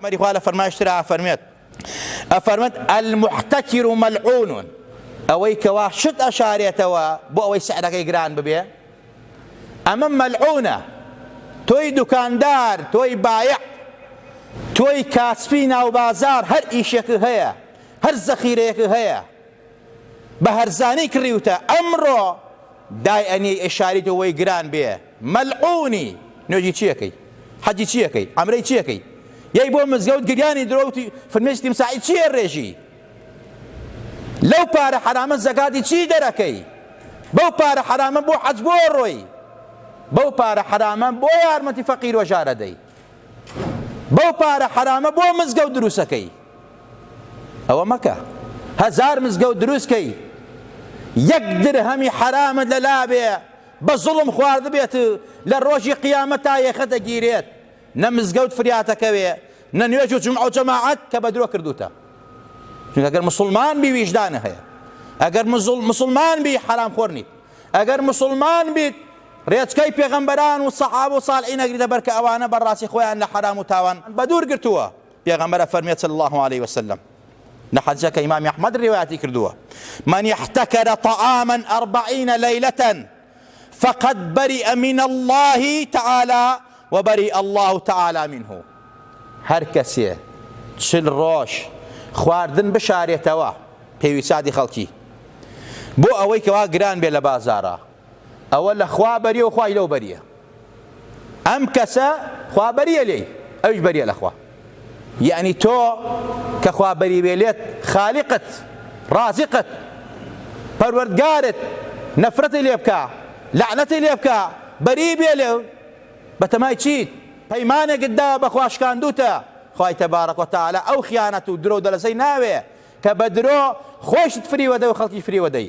پێغەمبەری خوا لە فەرمایش ترا ئەفەرموێت ئەفەرموێت، المحتکر ملعون، ئەوەی کەوا شت ئەشارێتەوە بۆ ئەوەی سعرەکەی گران ببێ ئەمە ملعونە، تۆی دوکاندار، تۆی بایع، تۆی کاسپی ناو بازار هەر ئیشێکت هەیە، هەر زەخیرەیەکت هەیە، بە هەرزانی کڕیوتە ئەمڕۆ دای ئەنیەی ئەیشاریتەوە وەی گران بێ مەلعونی نوێژی چیەکەی حەجی چیەکەی عەمرەی چیەکەی یەی بۆ مزگەوت گریانی درۆ و فرمێسکی تیمساحی چی ئەرێژی لەو پارە حەرامە زەکاتی چی دەرەکەی بەو پارە حەرامە بۆ حەج بۆ ڕۆی بەو پارە حەرامە بۆ یارمەتی فەقیر و ژارە دەی بەو پارە حەرامە بۆ مزگەوت دروسەکەی ئەوە مەکە هەزار مزگەوت دروست کەی یەک درهەمی حەرامت لە لابێ بە زوڵم خوارد بێت لە ڕۆژی قیامەت تا یەخە دەگیرێت نە مزگەوت فریاتەکەوێ نە نوێژ و جمع و جەماعەت کە بە درۆ کردوتە چونکە گەر مسلمان بی ویژدانە هەیە ئەگەر مسلمان بی حرام خۆر نیت ئەگەر مسلمان بیت ڕێچکەی پێغەمبەران و سەحاب و ساڵعی نەگریدە بەرکە ئەوانە بەڕاستی خۆیان لە حرام و تاوان بەدوور گرتووە پێغەمبەر ئەفەرموێت صلی اللە علیە وسلم لە حەدیسێک کە ئیمامی ئەحمەد ڕیوایەتی کردووە من احتکر طعاما اربعین لیلة فقد بری من الله تعالی و بری الله تعالی منه هەر کەسێ چل ڕۆژ خواردن بشارێتەوە پێویسادی خەڵکی بۆ ئەوەی کەوا گران بێ لە بازارە ئەوە لە خوا بەریە و خوای لەو بەریە ئەم کەسە خوا بەریە لێی ئەویش بەریە لە خوا یعنی تۆ کە خوا بەری بێ لێت خالقت رازقت پەروەردگارت نەفرەتی لێ بکە لەعنەتی لێ بکە بەری بێ لێ بەتەمای چیت پەیمانێکت داوە بەخوا شکاندوتە خوای تبارک و تعالی ئەو خیانەت و درۆ دەلەسەی ناوێ کە بە درۆ خۆشت فریوەدە و خەڵکی فریوەدەی